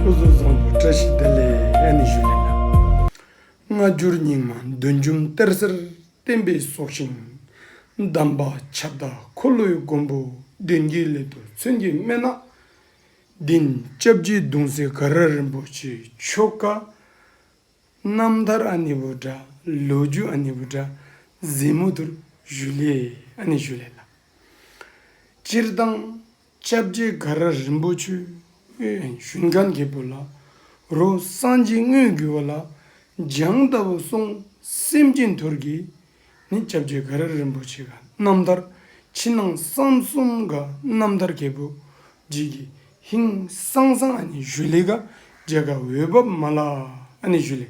སྐུ་གཟུགས་བཟང་པོ་བཀྲ་ཤིས་བདེ་ལེགས་ཨ་ནི་ཞུ་ལེ་ན། སྔ་འགྱུར་རྙིང་མ་འདོན་འཇུམ་གཏེར་གསར་བསྟན་པའི་སྲོག་ཤིང་གདམས་པ་ཁྱབ་བདག་འཁོར་ལོའི་མགོན་པོ་བདུན་རྒྱལ་སླེ་དུར་མཚོན་གྱི་སྨན་ནག་བདུན། ལྕགས་ཀྱི་གདུང་སྲས་ག་ར་རིན་པོ་ཆེའི་ཆོ་ག། རྣམ་ཐར་ཨ་ནི་བུ་དགྲ་ལོ་རྒྱུས་ཨ་ནི་བུ་དགྲ་གཟིགས་མོ་དུར་ཞུ་ལེ་ཨ་ནི་ཞུ་ལེ་ན། སྤྱིར་བཏང། ལྕགས་རྗེ་དགའ་ར་རིན་པོ་ཆེའི་ཞུན་ཁ་འདི་བུ་ལ་རོ། སངས་རྒྱས་དངོས་བརྒྱུད་བ་ལ་སྦྱང་ལྟ་བུ་གསུང་སེམས་ཅན་དོར་གྱིས་ནི་ལྕགས་རྗེ་དགའ་ར་རིན་པོ་ཆེ་ག་རྣམ་ཐར་ཕྱི་ནང་གསང་གསུམ་ག་རྣམ་ཐར་རྒྱལ་པོ་རྗེས་ཀྱི་ཧིན་གསང་གསང་ཨ་ནི་ཞུ་ལི་ཀ་རྒྱལ་ཁ་འོད་བབས་མ་ལ་ཨ་ནི་ཞུ་ལི།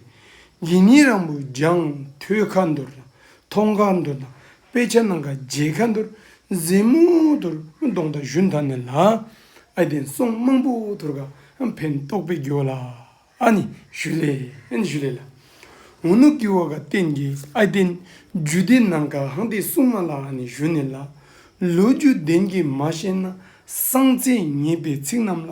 འདི་ཉིད་རང་བུ་སྦྱང་ཐོས་ཁ་འདོར་དང་མཐོང་ཁ་འདོར་དང་དཔེ་ཆ་ནང་ག་རྗེས་ཁ་འདུར་མཛེས་མོ་དུར་མདོང་དང་བཞུན་དང་ནི་ལ་ཨའི་དེང་སོང་མང་པོ་དུར་ག་འཕེན་རྟོགས་པའི་རྒྱུ་བ་ལ་ཨ་ནི་ཞུ་ལས་ཨན་ཞུ་ལས་ལ་ངོ་ནུ་ཀི་བ་ག་རྟེན་གི་ཨའི་དེ་རྒྱུ་སྡེ་ནང་ག་ཧང་དེ་སུང་མ་ལ་ཨ་ནི་ཞུ་ནི་ལ། ལོ་རྒྱུས་ལྡན་གྱི་མ་ཤེས་ན་སང་ཚེ་ངེས་པའི་ཚིག་རྣམས་ལ་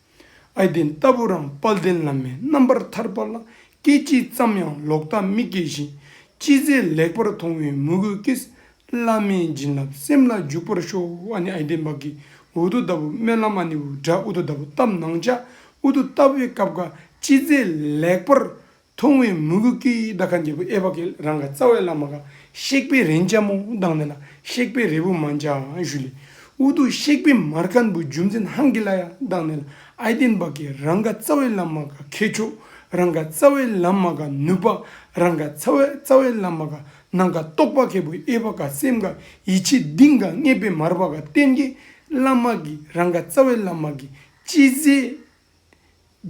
ཨའི་གདན་ལྟ་བུ་རམ་དཔལ་ལྡན་བླ་མའི་རྣམ་པར་ཐར་པ་ལ་སྐད་ཅིག་ཙམ་ཡང་ལོག་ལྟ་མི་སྐྱེ་བཞིན་ཅི་མཛད་ལེགས་པར་མཐོང་བའི་མོས་གུས་ཀྱིས་བླ་མའི་བྱིན་རླབས་སེམས་ལ་འཇུག་པར་ཤོག་ཨ་ནི་ཨའི་གདན་བག་གི་འུར་རྡོ་ལྟ་བུ་སྨོན་ལམ་ཨ་ནི་འུར་སྒྲ་འུར་རྡོ་ལྟ་བུ་བཏབ་ནང་བཅའ་འུར་རྡོ་ལྟ་བུའི་སྐབས་འགའ་ཅི་མཛད་ལེགས་པར་མཐོང་བའི་མུ་གུ་ཀི་ཡིག་དག་ག་འབྲས་བུ་ཨེ་བ་ཀི་རང་ག་རྩ་བའི་བླ་མ་ག་གཤེགས་པའི་རེན་ལྕ་མོ་དང་ནི་ལ་གཤེགས་པའི་རེ་བུ་མ་འཇའ་གཞུ་ལས་འུ་དུ་གཤེགས་པའི་མར་ཁ་འབུ་རྒྱུ་འཛིན་ཧང་གི་ལ་ཡ་དང་ནི་ལ་ཨའི་ཏིན་བ་ཀི་རང་ག་རྩ་བའི་བླ་མ་ག་མཁས་མཆོག་རང་ག་རྩ་བའི་བླ་མ་ག་ནུས་པ་རང་ག་རྩ་བའི་བླ་མ་ག་ནང་ག་རྟོགས་པ་མཁས་པོ་ཨེ་བ་ཀ་སེམས་ག་ཡིད་ཆེས་གདིང་ག་རྔེད་པའི་མར་བ་ག་བསྟན་གི་བླ་མ་ཀི་རང་ག་རྩ་བའི་བླ་མ་ཀི་སྤྱི་ཟས་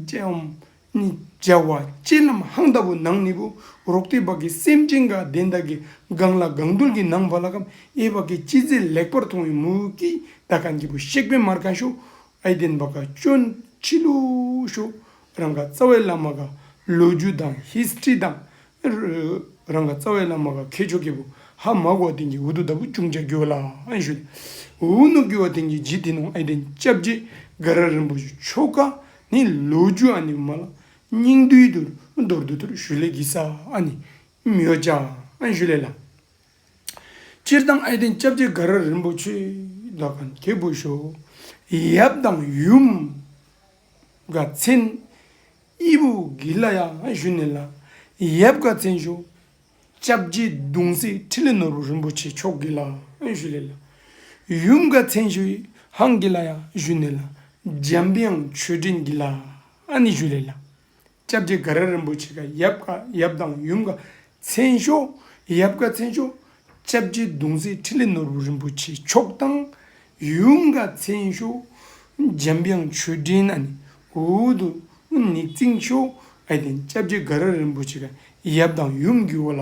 ཅེས་འོམ་ནི་སྦྱར་བ་སྤྱིར་ལམ་ཧང་ལྟ་བུ་ནང་ནི་བུ་རོག་སྟེ་བག་གི་སེམས་ཅན་དགའ་ལྡན་དག་གི་སྒང་ལ་སྒང་དུར་གྱི་ནང་བ་ལ་ཁམས་ཨེ་བག་གི་སྤྱི་རྫས་ལེགས་པར་མཐོང་བའི་མུ་གེའི་ཟླ་ག་འགྱིད་པོ་གཤེགས་པའི་མར་ག་ཤོ་ཨེ་ལྡན་བག་ག་ཅོ་འཕྱི་ལུགས་ཤོ་རང་ག་རྩ་བའི་བླ་མ་ག་ལོ་རྒྱུ་དང་ཧིས་ཏྲི་དང་རང་ག་རྩ་བའི་བླ་མ་ག་མཁས་མཆོག་སྐྱེས་བུ་ཧ་མ་གོ་བ་དན་གྱིས་འུ་དུ་ད་བུ་ཅུང་ཅག་རྒྱུ་བ་ལ་ཨན་ཞུ། འུ་ནུ་རྒྱུ་བ་དན་གྱིས་ཇི་དེ་ནང་ཨེ་དན་བཅབས་རྗེས་ག་ར་རིན་པོ་ཆེ་མཆོག་ག་ནི་ལོ་རྒྱུ་ཨ་ནི་མ་ལ་སྙིང་དུས་དུ་རྡོར་དུ་དུར་ཞུ་ལས་གི་ས་ཨ་ནི་མྱོས་ཅག་ཨན་ཞུ་ལས་ལ། སྤྱིར་བཏང་ཨེ་དན་བཅབས་རྗེས་ག་ར་རིན་པོ་ཆེ་ད་ག་མཁས་བུ་ཞོ་ཡབ་དང་ཡུམ་དགའ་ཚན། དབྱི་བུ་གི་ལ་ཡ་བཞུ་ནེ་ལ། ཡབ་དགའ་ཚན་ཞོ། ལྕགས་རྗེ་གདུང་སྲས་ཁྲི་ལེ་ནོར་བུ་རིན་པོ་ཆེ་མཆོག་གི་ལ་བཞུ་ལེ་ལ། ཡུམ་དགའ་ཚན་ཞོ་ཡི་ཧང་གི་ལ་ཡ་བཞུ་ནེ་ལ། འཇམ་དབྱངས་ཆོས་འདྲེན་གྱི་ལ་ནི་བཞུ་ལེ་ལ། སྐྱབས་རྗེ་དགའ་ར་རིན་པོ་ཆེ་ཀ་ཡབ་ཀ་ཡབ་དང་ཡུམ་ཀ་མཚན་ཤོག་ཡབ་ཀ་མཚན་ཤོག། སྐྱབས་རྗེ་གདུང་རྩེའི་ཁྲི་ལས་ནོར་བུ་རིན་པོ་ཆེ་མཆོག་དང་ཡུམ་ཀ་མཚན་ཤོག། འཇམ་དབྱངས་ཆོས་སྒྲིན་ན་ནི་འུར་དུ་ནི་རྩིང་ཤོག་ཨ་དེ་སྐྱབས་རྗེ་དགའ་ར་རིན་པོ་ཆེ་ཀ་ཡབ་དང་ཡུམ་རྒྱུ་བ་ལ།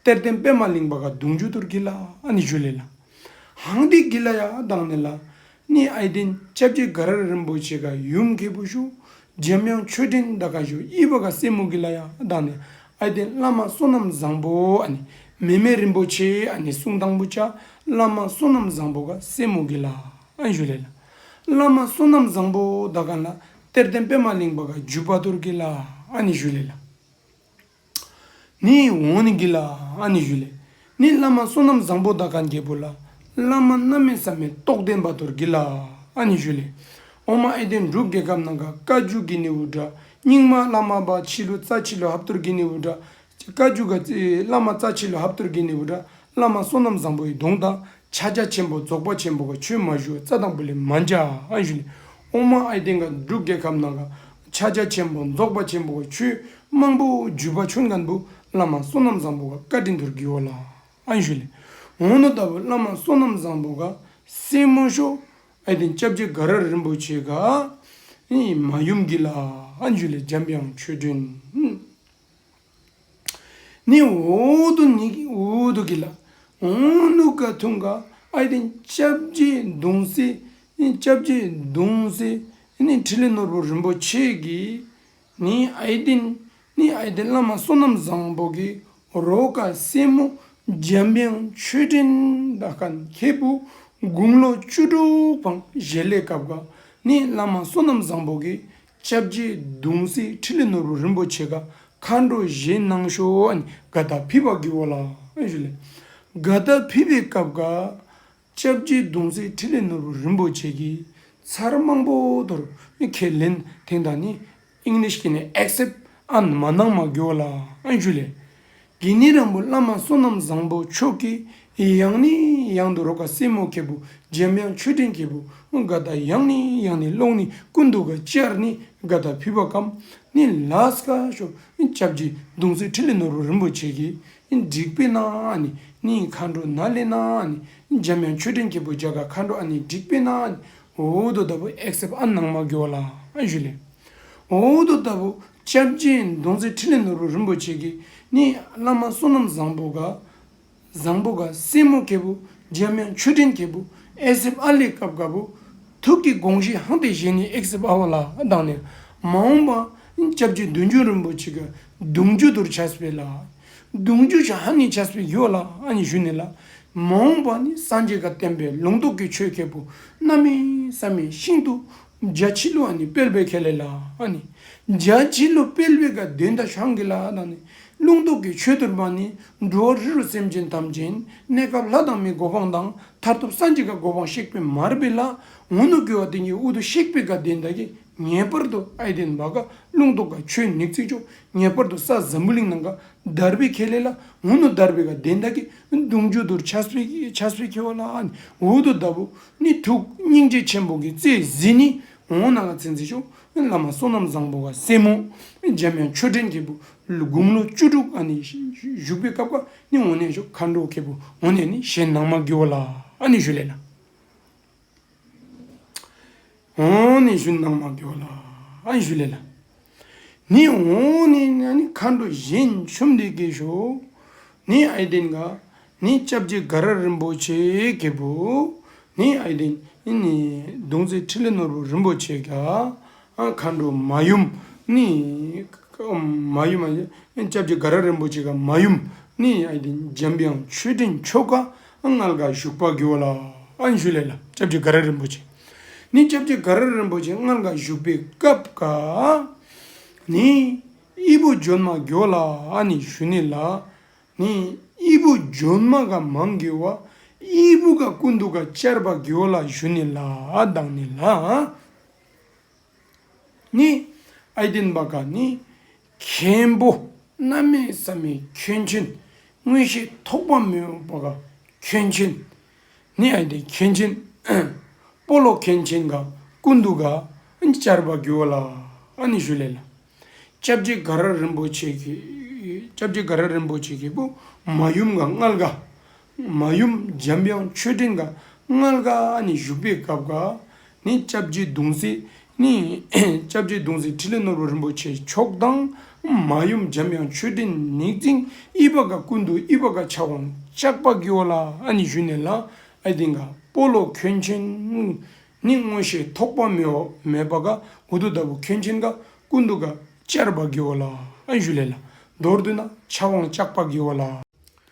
གཏེར་སྟེན་པད་མ་གླིང་པ་ག་གདུང་རྒྱུ་དུར་གྱི་ལ་ཨནི་བཞུ་ལེ་ལ། ཧང་ཏི་གི་ལ་ཡ་དང་ནེ་ལ་ནི་ཨའི་ཏིན་ལྕགས་ཀྱི་ག་རར་རིན་པོ་ཆེ་ག་ཡུམ་མཁས་པོ་བཞུ། འཇམ་དབྱངས་མཆོད་སྤྲིན་མནྡ་ཀ་བཞུ་དབྱི་བ་ག་སེ་མུ་གི་ལ་ཡ་དང་ནེ་ཨའི་ཏིན་བླ་མ་བསོད་ནམས་བཟང་པོ་ཨནི་མེ་མེ་རིན་པོ་ཆེ་ཨནི་གསུང་དང་པོ་བཅའ་བླ་མ་བསོད་ནམས་བཟང་པོ་ག་སེ་མུ་གི་ལ་ཨནི་བཞུ་ལེ་ལ། བླ་མ་བསོད་ནམས་བཟང་པོ་མནྡ་ཀ་ལ་གཏེར་སྟེན་པད་མ་གླིང་པ་ག་རྒྱུད་པ་དུར་གྱི་ལ་ཨནི་བཞུ་ལེ་ལ། ནི་འོང་ནི་གི་ལ་ཨ་ནི་ཞུ་ལས་ནི་བླ་མ་བསོད་ནམས་བཟང་པོ་དག་ག་འགྱེད་པོ་ལ་བླ་མ་རྣམ་མེད་ཟབ་མེད་རྟོགས་ལྡན་བ་དོར་གི་ལ་ཨ་ནི་ཞུ་ལས་འོང་མ་ཨེ་བདེན་འབྲུག་རྒྱལ་ཁབ་ནང་ག་བཀའ་བརྒྱུད་གི་ནི་འུར་སྒྲ་སྙིང་མ་བླ་མ་པ་ཕྱི་ལོ་རྩ་ཆེ་ལོ་ཧབ་དོར་གི་ནི་འུར་སྒྲ་བཀའ་བརྒྱུད་ག་བླ་མ་རྩ་ཆེ་ལོ་ཧབ་དོར་གི་ནི་འུར་སྒྲ་བླ་མ་བསོད་ནམས་བཟང་པོའི་གདུང་དང་ཕྱག་རྒྱ་ཆེན་པོ་རྫོགས་པ་ཆེན་པོ་ག་ཆོས་མ་ཞུ་རྩ་དང་པོ་ལས་མ་འཇའ་ཨ་ཞུ་ནས་ཨོང་མ་ཨའི་སྟེང་ག་འབྲུག་རྒྱལ་ཁབ་ནང་ག་ཕྱག་རྒྱ་ཆེན་པོ་རྫོགས་པ་ཆེན་པོ་ག་ཆོས་དམངས་པོ་བརྒྱུད་པ་ཆོས་མཁན་པོ་བླ་མ་བསོད་ནམས་བཟང་པོ་ག་བཀའ་དྲིན་དུར་གིའོ་ལ་ཨ་ཞུ་ལས་ངོ་ནོ་ལྟ་བུ་བླ་མ་བསོད་ནམས་བཟང་པོ་ག་སེ་མོ་ཤོ་ཨའི་སྟེང་སྐྱབས་རྗེ་ག་ར་རིན་པོ་ཆེ་ག་ཨེ་མ་ཡུམ་གི་ལ་ཨ་ཞུ་ལས་འཇམ་དབྱངས་ཆོས་སྒྲོན། ནི་འོག་ཏུ་ནི་འོག་ཏུ་གི་ལ། འོང་ནུ་ག་ཐུང་ག་ཨ་ཡི་སྟེང་ལྕགས་བརྒྱད་མདུང་སེ་ལྕགས་བརྒྱད་མདུང་སེ་ནི་ཁྲི་ལི་ནོར་བུ་རིན་པོ་ཆེ་གི་ནི་ཨ་ཡི་སྟེང་ནི་ཨ་ཡི་སྟེང་བླ་མ་བསོད་ནམས་བཟང་པོ་གི་རོ་ག་སེ་མོ་འཇམ་དབྱངས་མཆོད་སྤྲིན་ད་ག་མཁས་བུ་དགུང་ལོ་བཅུ་དྲུག་འཕང་བཞེས་ལས་སྐབས་ག་ནི་བླ་མ་བསོད་ནམས་བཟང་པོ་གི་བཅྭ་བརྒྱད་གདུང་སྲས་ཁྲི་ལས་ནོར་བུ་རིན་པོ་ཆེ་ག་མཁའ་འགྲོ་བཞེས་གནང་ཤོག་ག་དག་ཕིབས་པ་དགེ་བོ་ལགས། ག་དག་ཕིབས་པའི་སྐབས་འགའ། བཅྭ་བརྒྱད་གདུང་སྲས་ཁྲི་ལས་ནོར་བུ་རིན་པོ་ཆེ་གིས་ཚར་མང་པོ་དོར་ནས་ཁས་ལེན་དེང་དང་ནི། English གི་ནི accept and མ་གནང་མ་དགེ་བོ་ལགས། དགེ་བསྙེན་རང་བུ་བླ་མ་བསོད་ནམས་བཟང་པོ་མཆོག་གི་ཡང་ནི་ཡང་དུ་རོ་ག་སྲས་མོ་གད་བུ་འཇམ་དབྱངས་མཆོད་སྤྲིན་གད་བུ་འགའ་བདའ་ཡང་ནི་ཡང་ནི་ཀློང་ནི་ཀུན་ཏུ་ག་ཅར་ནི་འགའ་བདའ་བུས་པ་གམ་ནི་ལཱས་ཀ་ཤོ་སྐྱབས་ཀྱི་གདུང་སྲས་ཁྲི་ལི་ནོར་བུ་རིན་པོ་ཆེ་གི་བསྒྲིགས་པའི་ནང་ཨ་ནི་ནི་མཁའ་འགྲོ་ནཱ་ལེ་ནཱ་ཨ་ནི་འཇམ་དབྱངས་མཆོད་སྤྲིན་གད་བུ་བརྒྱ་ག་མཁའ་འགྲོ་ཨ་ནི་བསྒྲིགས་པའི་ནང་ཨ་ནི་འོད་དུ་བདའ་བུ་ཨེག་སེབ་ཨ་ནང་མ་གོ་ལ་ཨ་བཞུ་ལས། འོ་དོ་ལྟ་བུ་སྐྱབས་རྗེ་མདོ་མཛད་ཕྲིན་ལས་ནོར་བུ་རིན་པོ་ཆེ་གིས་ནི་བླ་མ་བསོད་ནམས་བཟང་པོ་དགའ། བཟང་པོ་དགའ་སྲས་མོ་མཁས་པོ་འཇམ་དབྱངས་མཆོད་སྤྲིན་མཁས་པོ་ཨེ་སིབ་ཨ་ལས་སྐབས་དཀར་པོ། ཐུགས་ཀྱི་དགོངས་གཞི་ཧང་སྟེ་བཞེས་ནས་ཨེ་སིབ་ཨ་བ་ལ་བཏང་ནས། མ་འོངས་པ་སྐྱབས་རྗེ་བདུན་བརྒྱུད་རིན་པོ་ཆེ་གི་གདུང་རྒྱུད་དུར་བྱ་སྤེལ་ལ། གདུང་རྒྱུད་ཆ་ཧ་ནི་བྱ་སྤེལ་བརྒྱུད་ལ་ཨ་ནི་ཞུ་ནས་ལ། མ་འོངས་པ་ནི་སངས་རྒྱས་དགའ་བསྟན་པའི་ལུང་རྟོགས་ཀྱི་ཆོས་མཁས་པོ་རྣམ་སྨིན་བསམ་མེད་ཤིང་ཏུ་རྒྱ་ཆེ་ལོ་ཨ་ནི་དཔལ་བེ་ཁེ་ལེ་ལ་ཨ་ནི། རྒྱ་ཆེ་ལོ་དཔལ་བེ་ག་དེ་མདའ་ཤང་གི་ལ་ཨ་དང་ནི། རླུང་རྟོག་གི་ཆོས་དུར་བ་ནི། འགྲོ་བ་རི་རུ་སེམས་ཅན་ཐམས་ཅད་གནས་སྐབས་ལྷ་དང་མིའི་གོ་འཕང་དང་མཐར་ཐུག་སངས་རྒྱས་ཀ་གོ་འཕང་གཤེགས་པའི་མར་བེ་ལ་ངོ་ནུ་དགེ་བ་དེང་གི་དབུ་དུ་གཤེགས་པའི་ག་དེ་མདའ་གི་ངེས་པར་དུ་ཨ་ཡི་དེ་མདའ་ག་རླུང་རྟོག་ག་ཆོས་ནིག་ཚིག་ཅོག་ངེས་པར་དུ་ས་ཛམ་བུ་གླིང་ནང་ག་དར་བེ་ཁེ་ལེ་ལ་ངོ་ནུ་དར་བེ་ག་དེ་མདའ་གི་གདུང་རྒྱུད་དུར་ཆ་སོས་ཁེ་བ་ལ་ཨ་ནི་འུ་དུ་མདའ་བུ་ནི་ཐུགས་སྙིང་རྗེ་ཆེན་པོ་གི་རྩེ་གཟིགས་ནི་ངོ་བོ་ནང་ལ་ཚེ་འཛིན་ཤོག་བླ་མ་བསོད་ནམས་བཟང་པོ་བ་སེ་མོ་འཇམ་དབྱངས་ཆོས་འཕྲིན་རྒྱལ་པོ་དགུང་ལོ་བཅུ་དྲུག་ཨ་ནི་བཞུགས་པའི་སྐབས་ཀ་ནི་ངོ་ནས་ཤོག་མཁའ་འགྲོ་མཁས་པོ་ངོ་ནས་ནི་ཞལ་ནང་མ་དགེ་བ་ལ་ཨ་ནི་ཞུ་ལས་ལ། འོང་ནི་ཞུ་ནང་མ་འགྱོ་ལ་ཨ་ཞུ་ལེ་ལ། ནི་འོང་ནི་ནི་མཁའ་འགྲོ་གཞན་ཆོམ་འདི་གེ་ཞོ། ནི་ཨའི་བདེན་ག་ནི་ལྕགས་བྱི་དགའ་ར་རིན་པོ་ཆེ་གེ་པོ། ནི་ཨའི་བདེན་ནི་ནི་མདུང་རྩེ་ཁྲི་ལེ་ནོར་བུ་རིན་པོ་ཆེ་ག། མཁའ་འགྲོ་མ་ཡུམ་ནི་མ་ཡུམ་མ་ལྕགས་བྱི་དགའ་ར་རིན་པོ་ཆེ་ག་མ་ཡུམ། ནི་ཨའི་བདེན་འཇམ་དབྱངས་ཆོས་སྤྲིན་མཆོག་ག་མངལ་དགའ་བཞུགས་པ་འགྱོ་ལ་ཨ་ཞུ་ལེ་ལ་ལྕགས་བྱི་དགའ་ར་རིན་པོ་ཆེ། ནི་སྐྱབས་རྗེ་དགའ་ར་རིན་པོ་ཆེ་སྔར་འགའ་བཞུགས་པའི་སྐབས་འགའ་ནི། དབྱི་བོ་ཇོན་མ་གྱོ་ལ་ནི་ཞུ་ནི་ལ་ནི་དབྱི་བོ་ཇོན་མ་ག་མང་གྱོ་བ་དབྱི་བོ་ག་ཀུན་ཏུ་ག་ཅར་པ་གྱོ་ལ་ཞུ་ནི་ལ་དང་ནི་ལ། ནི། ཨཱི་དིན་བ་ག་ནི། མཁན་པོ་རྣལ་མའི་ས་མའི་ཁྱོན་ཆེན། མངོན་ཤེས་ཐོགས་པ་མེ་འོབས་བ་ག་ཁྱོན་ཆེན། ནི་ཨཱི་དིན་མཁན་ཆེན། སྤོ་ལོ་མཁན་ཆེན་ག་ཀུན་ཏུ་ག། བཅར་བར་གྱུར་བ་ལ་ཨཱ་ནི་ཞུ་ལས་ལ། ལྕགས་རྗེ་ག་ར་རིན་པོ་ཆེ་གི། ལྕགས་རྗེ་ག་ར་རིན་པོ་ཆེ་གི་པུ་མ་ཡུམ་ག་མངལ་ག། མ་ཡུམ་འཇམ་དབྱངས་མཆོད་སྤྲིན་དགའ་མངལ་དགའ་ནི་བཞུགས་པའི་སྐབས་དགའ་ནི་ལྕགས་བྱི་གདུང་སྲིད་ནི། ལྕགས་བྱི་གདུང་སྲིད་ཁྲི་ལས་ནོར་བུ་རིན་པོ་ཆེ་མཆོག་གདངས། མ་ཡུམ་འཇམ་དབྱངས་མཆོད་སྤྲིན་ནི་རྩིང་ཨི་པ་དགའ་ཀུན་ཏུ་ཨི་པ་དགའ་ཕྱག་དབང་ལྕགས་པ་ཀི་ཨོ་ལ་ནི་བཞུགས་ནས་ལ་ཨི་ཏི་དགའ་སྤོ་ལོ་ཁྱོད་ཆེན་ནི་མངོན་ཤེས་ཐོགས་པ་མི་འོག་མེད་པ་དགའ་འུ་ཏུ་ལྟ་བུ་ཁྱོད་ཆེན་དགའ་ཀུན་ཏུ་དགའ་ལྕགས་པ་ཀི་ཨོ་ལ་ཨི་བཞུགས་ལས་ལ་མདོར་བསྡུ་ན་ཕྱག་དབང་ལྕགས་པ་ཀི་ཨོ་ལ།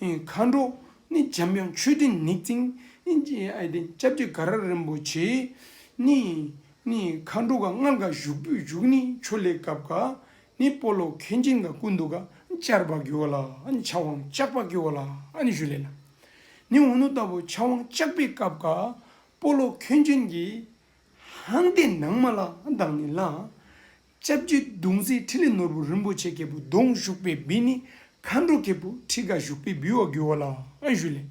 མཁའ་འགྲོ་ནི་འཇམ་དབྱངས་མཆོད་སྤྲིན་ནི། ལྕགས་ཀྱི་ག་ར་རིན་པོ་ཆེ་ནི། མཁའ་འགྲོ་ག་སྔགས་འགའ་བཞུགས་པོད་བཞུགས་ནི་ཆུ་ལེགས་གབ་འགའ་ནི་སྤོ་ལོ་མཁན་ཆེན་འགའ་ཀུན་ཏུ་ག་ཅར་བ་རྒྱུ་བ་ལ་ཕྱག་དབང་ལྕགས་པ་རྒྱུ་བ་ལ་ནི་ཞུ་ལེ་ལ་ནི་འུ་ནུ་ལྟ་བུ་ཕྱག་དབང་ལྕགས་པས་གབ་འགའ་སྤོ་ལོ་མཁན་ཆེན་གྱིས་ལྷང་ལྟས་ནང་མ་ལ་དང་ནི་ལ་ལྕགས་ཀྱུའི་མདུང་རྩེའི་ཐིག་ལེ་ནོར་བུ་རིན་པོ་ཆེ་སྐྱེས་བུ་གདོང་བཞུགས་པའི་བི་ནི་མཁའ་འགྲོ་སྐྱེས་བུ་ཁྲི་ཀ་བཞུགས་པའི་བི་བ་གུ་བ་ལ་བཞུ་ལེ།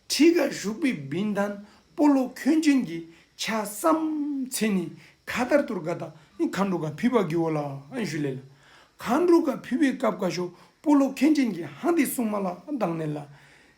ཁྲི་ཀ་བཞུགས་པའི་བི་མདངས་སྤོ་ལོ་ཁྱོད་བྱིན་གྱིས་ཆ་བསམ་ཚེ་ནི་མཁའ་ལྟར་དུར་ཀ་དག་ནི་མཁའ་འགྲོ་ཀ་ཕུད་པ་གུ་བ་ལ་བཞུ་ལེ་ལ། མཁའ་འགྲོ་ཀ་ཕུད་པའི་སྐབས་ཀ་ཤོ་སྤོ་ལོ་ཁྱོད་བྱིན་གྱིས་ཧང་དི་སྲུང་མ་ལ་མདངས་ནི་ལ།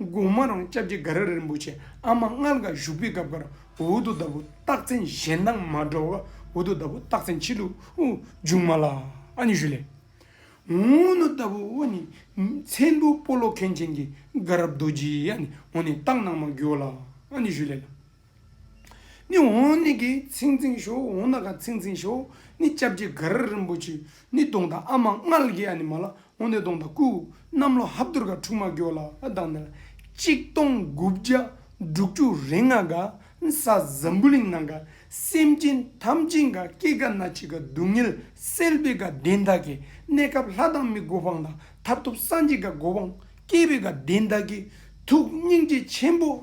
དགོང་མོ་རང་སྐྱབས་རྗེ་ག་ར་རིན་པོ་ཆེ་ཨ་མ་མངལ་དགའ་བཞུགས་པའི་སྐབས་འགར་འུ་རྡོ་ལྟ་བུ་རྟགས་མཚན་གཞན་སྣང་མ་འགྲོ་བར་འུ་རྡོ་ལྟ་བུ་རྟགས་མཚན་ཕྱི་ལུགས་དབུ་འཇུག་མ་ལ་ཨ་ནི་ཞུ་ལས། འུ་རྡོ་ལྟ་བུ་དབུ་ནི་མཚན་དུ་སྤོ་ལོ་མཁན་ཆེན་གྱི་དགའ་རབ་རྡོ་རྗེའི་ཨ་ནི་འུ་ནི་རྟགས་སྣང་མ་འགྱུར་བ་ལ་ཨ་ནི་ཞུ་ལས། ནི་འོང་ནི་གི་ཚིག་འཛིན་ཤོ་འོང་ན་ག་ཚིག་འཛིན་ཤོ་ནི་ལྕགས་ཀྱི་གར་རིན་པོ་ཆེ་ནི་གདོང་དང་ཨ་མ་མངལ་གྱི་ཨ་ནི་མ་ལ་འོང་ནི་གདོང་དང་སྐུ་གནམ་ལོ་ཧབ་དུར་ག་འཁྲུག་མ་གྱོ་ལ་དང་ནི་ལ་གཅིག་སྟོང་དགུ་བརྒྱ་འབྲུག་བཅུ་རེ་ལྔ་ག་ས་ཛམ་བུ་གླིང་ནང་ག་སེམས་ཅན་ཐམས་ཅད་ག་སྐྱེ་ག་ན་འཆི་ག་སྡུག་བསྔལ་སེལ་བའི་ག་བདེན་བདག་གི་གནས་སྐབས་ལྷ་དང་མི་གོ་འཕང་དང་མཐར་ཐུག་སངས་རྒྱས་ག་གོ་འཕང་སྐྱེ་བའི་ག་བདེན་བདག་གི་ཐུགས་སྙིང་རྗེ་ཆེན་པོ།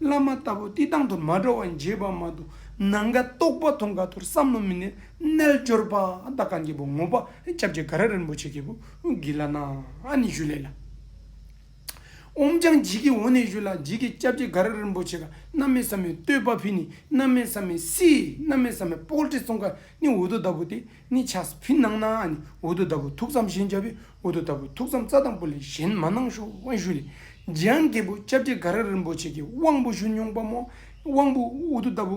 བླ་མ་ལྟ་བུ་བསྟི་སྟང་དུ་མ་འགྲོ་བ་འགྱེད་པ་མ་དུ་ནང་ག་རྟོགས་པ་ཐོང་ག་ཐུར་བསམ་བློ་མི་གནས་རྣལ་འབྱོར་པ་ད་ག་འགྱེད་པོ་ངོ་པ་སྐྱབས་རྗེ་ག་ར་རིན་པོ་ཆེ་སྐྱེས་བུ་གི་བླ་ན་ཨ་ནི་བཞུ་ལེ་ལ། འོམ་ཅང་འགྱིད་ཀྱི་འོ་ནས་བཞུ་ལ་འགྱིད་ཀྱི་སྐྱབས་རྗེ་ག་ར་རིན་པོ་ཆེ་ག་ན་མེ་ས་མའི་བསྟོད་པ་ཕི་ནི་ན་མེ་ས་མའི་སི་ན་མེ་ས་མའི་པོག་ཏྲི་ཙོང་ག་ནི་འུ་དོ་ད་བུ་ཏི་ནི་ཆ་སི་ཕི་ནང་ན་ཨ་ནི་འུ་དོ་ད་བུ་ཐུགས་བསམ་ཞེན་བྱ་བའི་འོ་དོ་ལྟ་བུའི་ཐུགས་དམ་རྩ་དང་པོ་ལས་གཞན་མ་གནང་ཞུ་དབང་ཞུས་ནས་རྗེ་འམ་རྒྱལ་པོ་ལྕགས་སྤྲེལ་དགའ་ར་རིན་པོ་ཆེ་གི་དབང་པོ་ཞུ་མྱོང་པ་མོ་དབང་པོ་འོ་དོ་ལྟ་བུ་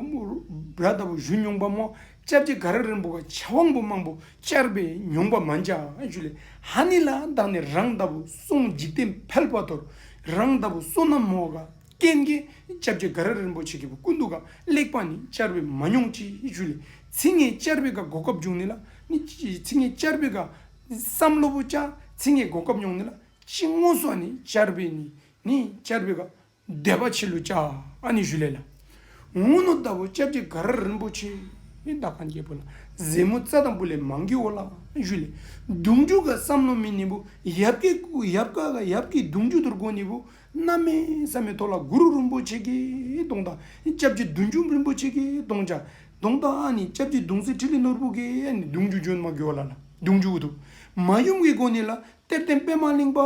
ར་ལྟ་བུ་ཞུ་མྱོང་པ་མོ་ལྕགས་སྤྲེལ་དགའ་ར་རིན་པོ་ག་བྱ་དབང་པོ་མང་པོ་བཅར་པས་མྱོང་པ་མ་འཇགས་ཞུ་ལས་ཧ་ནི་ལ་དག་ནས་རང་ལྟ་བུ་སྲུང་འཇིག་རྟེན་ཕལ་པ་དོར་རང་ལྟ་བུ་བསོད་ནམས་མོ་ག་སྐལ་མཁན་ལྕགས་སྤྲེལ་དགའ་ར་རིན་པོ་ཆེ་གི་བུ་ཀུན་ཏུ་ག་ལེགས་པ་ནི་བཅར་པས་མ་མྱོང་ཅི་ཞུ་ལས་ཚིག་ངན་བཅར་པས་ག་གོ་སྐབས་འབྱུང་ནི་ལ་ནི་ཚིག་ངན་བཅར་པས་ག། བསམ་བློ་བོ་ཅག་ཚིག་ངན་གོ་སྐབས་མྱོང་ནི་ལ་ཅི་ངོ་སོ་ནི་ཅར་བེ་ནི་ནི་ཅར་བེ་ག་འདས་པ་ཆི་ལུ་ཅག་ཨ་ནི་ཞུ་ལེ་ལ། ངོ་ནོ་ལྟ་བུ་སྐྱབས་རྗེ་ག་ར་རིན་པོ་ཆེ་ནི་ད་གང་རྒྱལ་པོ་ལ་གཟེ་མོ་རྩ་དང་པུ་ལེ་མང་གི་འོ་ལ་ཞུ་ལེ། གདུང་རྒྱུད་ག་བསམ་བློ་མི་ནི་བུ་ཡབ་ཀྱི་ཡབ་ག་ག་ཡབ་ཀྱི་གདུང་རྒྱུད་དུར་གོ་ནི་བུ་སྣ་མེ་ས་མེ་ཐོ་ལ་གུ་རུ་རིན་པོ་ཆེ་གི་གདུང་དང་སྐྱབས་རྗེ་བདུད་འཇོམས་རིན་པོ་ཆེ་གི་གདུང་ཅག་གདོང་དང་ཨ་ནི་ལྕགས་ཀྱི་གདུང་གསེར་ཁྲི་ལི་ནོར་བུ་གའི་ཨ་ནི་གདུང་རྒྱུ་ཇོན་མ་གོ་ལ་ལ་གདུང་རྒྱུ་དུ་མ་ཡུམ་གྱི་སྒོ་ནི་ལ་གཏེར་བསྟན་པད་མ་གླིང་པ་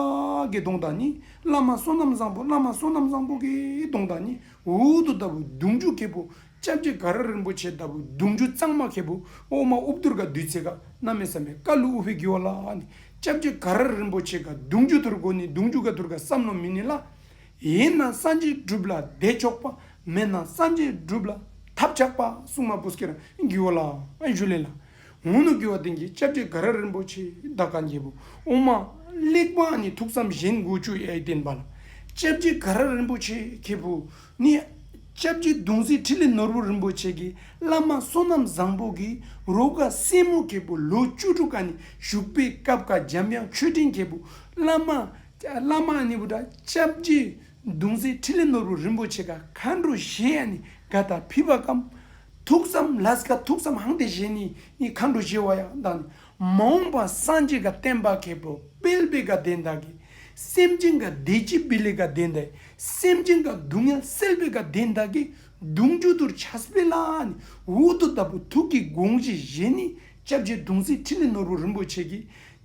གའི་གདོང་དང་ནི་བླ་མ་བསོད་ནམས་བཟང་པོ་བླ་མ་བསོད་ནམས་བཟང་པོ་གའི་གདོང་དང་ནི་འུར་འུར་དུ་ལྟ་བུ་གདུང་རྒྱུ་གལ་པོ་ལྕགས་ཀྱི་ག་ར་རིན་པོ་ཆེ་ལྟ་བུ་གདུང་རྒྱུ་གཙང་མ་གལ་པོ་འོག་མ་ཨུབ་དུར་ག་བདུད་རྩི་ག་ན་མེ་བསམ་པའི་ཀ་ལུ་ཨུ་བྷི་གུ་ཨོ་ལ་ཨ་ནི་ལྕགས་ཀྱི་ག་ར་རིན་པོ་ཆེ་ག་གདུང་རྒྱུ་དུར་གོ་ནི་གདུང་རྒྱུ་ག་དུར་ག་བསམ་ནོ་མི་ནི་ལ་ཡིན་ན་སངས་རྒྱས་བསྒྲུབ་ལ་བདེ་མཆོག་པ་མེད་ན་སངས་རྒྱས་བསྒྲུབ་ལ་ཐབས་ཆག་པ་སྲུང་མ་པུས་ཀེ་ར་འགྱུ་བ་ལ་ཞུ་ལེ་ལ་ངུ་ནུ་འགྱུ་བ་དེང་གི་ཅབ་ཀྱེ་ག་ར་རིན་པོ་ཆེ་བདག་ག་འགྱེད་པོ་ཨོ་མ་གླེགས་བམ་ནི་ཐུགས་བསམ་བཞིན་མགུ་བཅུ་ཡས་བསྟན་པ་ལ་ཅབ་ཀྱེ་ག་ར་རིན་པོ་ཆེ་ཁྱེད་བུ་ནི་ཅབ་ཀྱེ་གདུང་སྲས་ཁྲི་ལི་ནོར་བུ་རིན་པོ་ཆེ་གི་བླ་མ་བསོད་ནམས་བཟང་པོ་གི་རོ་ག་སྲས་མོ་ཁྱེད་བུ་ལོ་བཅུ་དྲུག་ག་ནས་བཞུགས་པའི་སྐབས་ག་འཇམ་དབྱངས་ཆོས་སྤྲིན་ཁྱེད་བུ་བླ་མ་བླ་མ་གཉིས་པོ་དང་ལྕགས་བརྒྱད་མདུང་རྩེ་ཁྲི་ལས་ནོར་བུ་རིན་པོ་ཆེ་ག་ག་འགྲོ་བཞེས་ཡང་ནི་ག་དག་ཕུལ་བ་གམ། ཐུགས་བསམ་ལྷས་ག་ཐུགས་བསམ་ཧང་སྟེ་བཞེས་ནི་ནི་ག་འགྲོ་བཞེས་བ་ཡང་དག་ནི་མ་འོངས་པ་སངས་རྒྱས་ག་བསྟན་པ་མཁས་པའོ་དཔལ་བེ་ག་དེ་དག་གི་སེམས་ཅན་ག་བདེ་སྐྱིད་བེ་ལེ་ག་དེ་དག་གི་སེམས་ཅན་ག་སྡུག་བསྔལ་སེལ་བེ་ག་དེ་དག་གི་གདུང་མཇུག་དུར་བྱ་བེ་ལ་ནི་འུ་ཐུག་ལྟ་བུ་ཐུགས་ཀྱི་དགོངས་བཞེས་བཞེས་ནི་ལྕགས་བརྒྱད་མདུང་རྩེ་ཁྲི་ལས་ནོར་བུ་རིན་པོ་ཆེ་གི་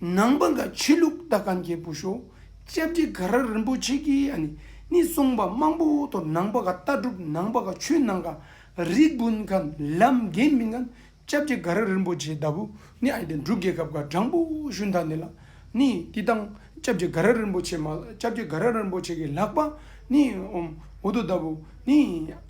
ནང་པ་འགའ་ཕྱི་ལུགས་ལྟ་ག་འགྱེད་པོ་ཤོ་ལྕགས་ཀྱི་དགའ་ར་རིན་པོ་ཆེ་གི་ཨ་ནི་ནི་གསུངས་པ་མང་པོ་དོ་ནང་པ་འགའ་ལྟ་གྲུབ་ནང་པ་འགའ་ཆོས་ནང་ག་རིགས་བུན་ག་ལམ་རྒན་མི་འགའ་ལྕགས་ཀྱི་དགའ་ར་རིན་པོ་ཆེ་ལྟ་བུ་ནི་ཨ་ནི་འབྲུག་རྒྱལ་ཁབ་འགའ་སྦྲང་པོ་ཤུ་མཐའ་ནི་ལ་ནི་ཏི་ཏང་ལྕགས་ཀྱི་དགའ་ར་རིན་པོ་ཆེ་མ་ལ་ལྕགས་ཀྱི་དགའ་ར་རིན་པོ་ཆེ་གི་ལག་པ་ནི་འོ་དོ་ལྟ་བུ་ནི།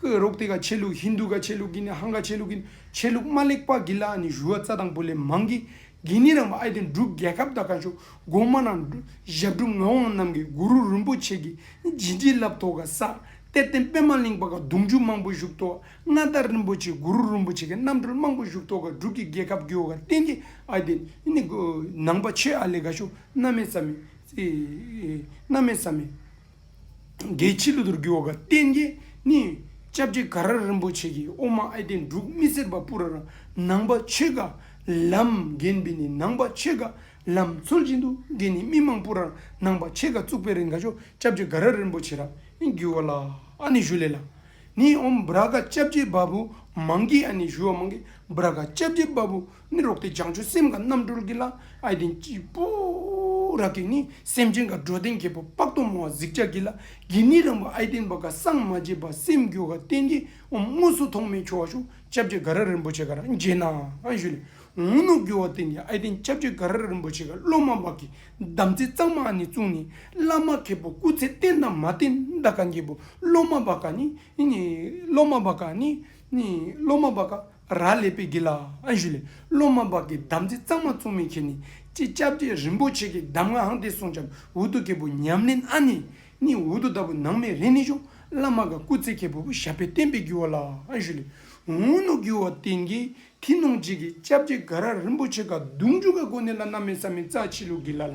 ཀུ་རོག་ཏི་ཀ་ཆས་ལུགས་ཧིན་རྡུ་ཀ་ཆས་ལུགས་ཀིན་ནི་ཧང་ཀ་ཆས་ལུགས་ཀིན་ཆས་ལུགས་དམར་ལེགས་པགས་ཀི་ལ་ནི་བཞུ་བ་རྩ་དང་པོ་ལས་མང་གིས་གིན་ནི་རང་བ་ཨའི་དོན་གྲུབ་རྒྱལ་ཁབ་དང་ག་ཤོ་སྒོ་མ་ན་ཞབས་གྲུབ་ངག་དབང་རྣམས་ཀིས་གུ་རུ་རུན་པོ་ཆེ་ཀིས་བྱིན་གྱིས་བརླབས་ཐོག་ག་ས་གཏེར་བསྟན་པད་མ་གླིང་པ་ག་གདུང་རྒྱུད་མང་པོ་བཞུགས་ཐོག་མངའ་བདག་རིན་པོ་ཆེ་གུ་རུ་རུན་པོ་ཆེ་ཀིས་རྣམ་གྲོལ་མང་པོ་བཞུགས་ཐོག་ག་འབྲུག་གི་རྒྱལ་ཁབ་རྒྱུད་བ་ག་བསྟན་གྱི་ཨའི་དོན་ནི་ནང་པ་ཆོས་ཨ་ལས་ག་ཤོ་སྣ་མེད་ས་མེད། འགའི་ཕྱི་ལུ་དུར་གྱི་འོག་གི་རྟེན་གྱི་ནི། ལྕགས་ཀྱི་ག་ར་རིན་པོ་ཆེ་གི་ཨོ་མ་ཨེ་སྟེ་འབྲུག་སྨི་སེར་བ་སྤུ་ར་ར་ནང་པ་ཆོས་ག་ལམ་རྒན་པི་ནི་ནང་པ་ཆོས་ག་ལམ་མཚོན་བཞིན་དུ་རྒན་ནི་སྨི་མང་སྤུ་ར་ར་ནང་པ་ཆོས་ག་བཙུགས་པའི་རིང་ག་ཤོག་ལྕགས་ཀྱི་ག་ར་རིན་པོ་ཆེ་ར་ནི་རྒྱུ་བ་ལ་ཨ་ནི་ཞུ་ལེ་ལ་ནི་ཨོམ་བྷ་ར་ཀ་ལྕགས་ཀྱི་བ་སྤུ་མང་གི་ཨ་ནི་ཞུ་བ་མང་གི་བྷ་ར་ཀ་ལྕགས་ཀྱི་བ་སྤུ་ནི་རོག་སྟེ་བྱང་ཆུབ་སེམས་དགའ་རྣམ་གྲོལ་གྱི་ལྷ་ཨའི་གདན་གྱི་སྤུ་རག་གིས་ནི་སེམས་ཅན་དགའ་བྲོ་ལྡན་གྱི་བུ་དཔག་ཏུ་མ་བ་གཟིགས་ལྕགས་ཀྱི་ལྷ་དགེ་མི་རངས་པ་ཨའི་གདན་པ་ག་སངས་མ་རྒྱས་པ་སེམས་རྒྱུ་ག་གཏན་གྱི་འོམ་དངོས་སུ་ཐོགས་མེད་ཁྱོ་བ་ཤུག་ལྕགས་བྱེ་ག་ར་རིན་པོ་ཆེ་ག་ར་མཇལ་ན་བཞུད་ལས་འོང་ནོ་རྒྱུ་བ་གཏན་གྱི་ཨའི་གདན་ལྕགས་བྱེ་ག་ར་རིན་པོ་ཆེ་ག་སློབ་མ་འབག་གི་དམ་ཚིག་གཙང་མ་ཨ་ནི་བཙུགས་ནས་བླ་མ་མཁས་པོ་སྐུ་ཚེ་བརྟན་དང་མ་བརྟན་འདའ་ག་འགྱེད་པོ་སློབ་མ་འབག་ག་ནི་སློབ་མ་འབག་ག་ནི་སློབ་མ་འབག་ག་ར་ལས་པའི་དགེ་ལ་ཨ་ཞུ་ལས་སློབ་མ་འབག་གི་དམ་ཚིག་གཙང་མ་བཙུགས་མིན་ཁྱེར་ནས་ཅི་བཅྭ་བརྒྱད་རིན་པོ་ཆེ་གི་གདམས་ངག་དེ་གསུངས་བྱམས་འུ་དུ་གེ་པོ་ཉམས་ལེན་ཨ་ནི་ནི་འུ་དུ་ལྟ་བུ་ནང་མི་རེ་ནི་ཤོ་བླ་མ་ག་སྐུ་ཚེ་གེ་པོ་བོ་ཞབས་པད་བརྟན་པའི་རྒྱུ་བ་ལ་ཨ་ཞུ་ལས་འུ་ནུ་རྒྱུ་བ་དེ་གི་དེ་ནོངས་བྱེད་གི་བཅྭ་བརྒྱད་ག་ར་རིན་པོ་ཆེ་ག་གདུང་བཅུ་ག་གོ་ནི་ལ་ན་མེ་ས་མི་རྩ་ཕྱི་ལུགས་གི་ལ་ལ་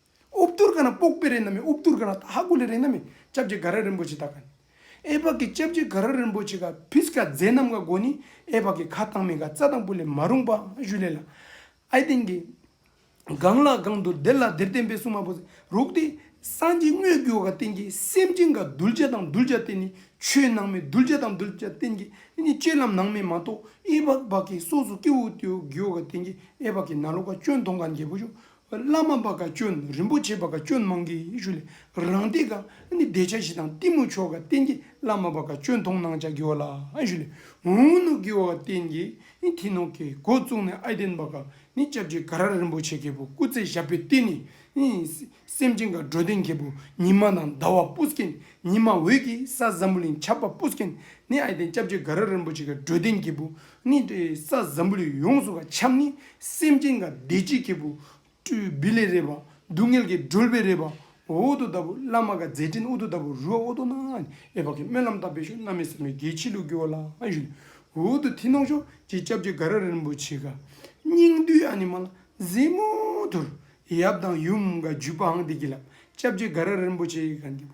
ཨུ་བསྟུར་ག་ན་སྤོག་པའི་རེ་ན་མེད་ཨུ་བསྟུར་ག་ན་ཏཧ་དགུ་ལའི་རེ་ན་མེད་ཅབ་ཅེ་ག་ར་རིན་པོ་ཆེ་ཏཱ་ག་ནི། ཨེ་བག་གི་ཅབ་ཅེ་ག་ར་རིན་པོ་ཆེ་ག་བིས་ཀ་ཛས་ནམ་ག་སྒོ་ནི་ཨེ་བག་གི་ཁ་དང་མི་ག་རྩ་དང་པུ་ལས་མ་རུངས་པ་བཞུ་ལས་ལ། ཨའི་སྟེང་གི། གང་ལ་གང་དུ་དེ་ལ་དེར་བརྟེན་པའི་སྲུང་མ་པོ་རུག་སྟེ། སངས་རྒྱས་དངོས་རྒྱུ་བ་ག་བརྟེན་གྱི་སེམས་ཅན་ག་གདུལ་བྱ་དང་གདུལ་བྱ་བརྟེན་ནི་ཆོས་ནང་མའི་གདུལ་བྱ་དང་གདུལ་བྱ་བརྟེན་གྱི་ཨི་ནི་སྤྱོད་ལམ་ནང་མའི་མ་གཏོགས་ཨི་བག་བག་གི་སོགས་སུ་སྐྱེ་བོ་དེའུ་རྒྱུ་བ་ག་བརྟེན་གྱི་ཨེ་བག་གི་ན་ལོ་ག་སྐྱོན་མཐོང་ག་འགྱེད་པོ་བཞུ་བླ་མ་བ་ག་སྐྱོན་རིན་པོ་ཆེ་བ་ག་སྐྱོན་མང་གི་ཡི་ཤུ་ལས་རང་སྡེ་ག་ནི་བདེ་ཆ་བཞི་དང་གཏི་མུག་མཆོག་ག་བསྟན་གྱི་བླ་མ་བ་ག་སྐྱོན་མཐོང་སྣང་བྱ་གི་བ་ལ་ཡི་ཤུ་ལས་འུ་ནུ་གི་བ་ག་བསྟན་གྱི་ནི་ཐི་ནོ་ཀའི་སྒོ་བཙུགས་ནས་ཨའི་བསྟན་བ་ག་ནི་སྐྱབས་རྗེ་ག་ར་རིན་པོ་ཆེ་གེ་བུ་སྐུ་ཚེ་ཞབས་པའི་བསྟན་ནི་སེམས་ཅན་ག་འགྲོ་དོན་གེ་བུ་ཉི་མ་དང་ཟླ་བ་སྤུ་སྐྱེ་ཉི་མ་འོད་ཀྱི་ས་ཟམ་བུ་ལིང་ཆབ་པ་སྤུ་སྐྱེ་ནི་ཨའི་བསྟན་སྐྱབས་རྗེ་ག་ར་རིན་པོ་ཆེ་ག་འགྲོ་དོན་གེ་བུ་ནི་དེ་ས་ཛམ་བུ་ལས་ཡོངས་སུ་ག་འཁྱམས་ནི་སེམས་ཅན་དགའ་བདེ་སྐྱིད་ཀྱི་བུ། སྤྲུལ་བི་ལས་རས་པ་སྡུག་བསྔལ་གྱིས་སྒྲོལ་བའི་རས་པ་འོད་དུ་ལྟ་བུ་བླ་མ་ག་མཛད་ཕྲིན་ཨུ་དུ་ལྟ་བུ་རུ་བ་ཨོ་དོ་ན་ཨེ་བག་གི་སྨོན་ལམ་དག་པས་ཤོག་མནའ་མེད་བསམ་ཡས་རྒྱལ་ཕྱི་ལུགས་ཀྱི་བ་ལ་ཞུ། འོད་དུ་ཐིས་ནོག་ཤོག་ཅེས་སྐྱབས་རྗེ་ག་ར་རིན་པོ་ཆེ་ག་སྙིང་འདུས་ཨ་ནི་མ་ལ་ཟེ་མོ་དུར་ཡབ་དང་ཡུམ་ག་བརྒྱུད་པའང་འདི་གྱིས་ལགས་སྐྱབས་རྗེ་ག་ར་རིན་པོ་ཆེ་ག་འདི་བུ